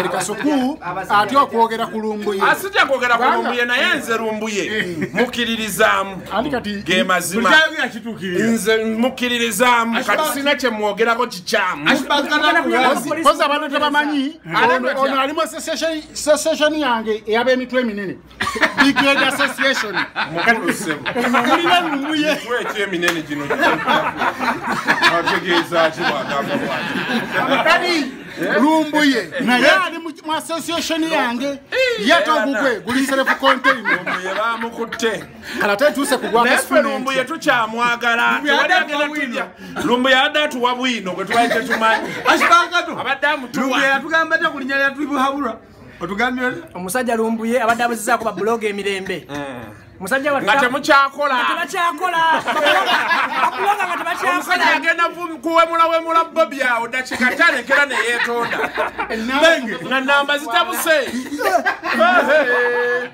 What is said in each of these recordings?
kasukuu atya okwogera ku lumbuye asija kwogera ku lumbuye naye nze lumbuye mukiririzaamu ge mazima nze mukiririzaamu kati sina kyemwogerako kikyamu kozi abantu tebamanyi ono alimu association yange eyaba emitwe eminene brigade association mulina lumuye ekyeminene gino ategeezaki bwagamba bwati kadi lumbuye naye ali mu association yange yatogugwe guli serefu containbamukutte lumbuye tukyamwagala lumbuye abadde atuwa bwino gwetubaye tetumanyi abadde amutuwatugamba takulinya lyatuibuhabulwa otugambye omusajja lumbuye abadde abuzizaako babuloga emirembe eh. musajja wa ngate muchakola ngate bachakola bakuloga ngate bachakola omusajja agenda kuwemula wemula bobi awo dakika tale kera ne yetonda nenge nga namba zitabuse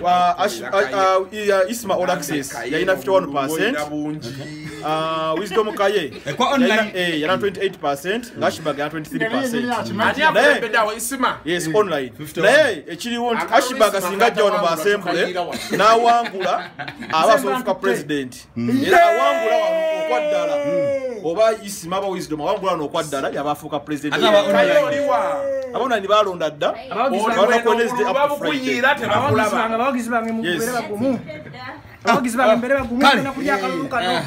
Uh, ash, uh, uh, uh, isma all access yalina 51 percent uh, wisdom kaye yalina eh, 28 percent ngashbag yalina 23 percent yes online naye ekiriwo nti ashbag singa ajja wano basembule n'awangula aba asobola ofuka president era awangula wano okwaddala oba isima aba wisdom awangula wano okwaddala yaba afuuka presidentabaonani balonda dda babukuyiira tebakulaba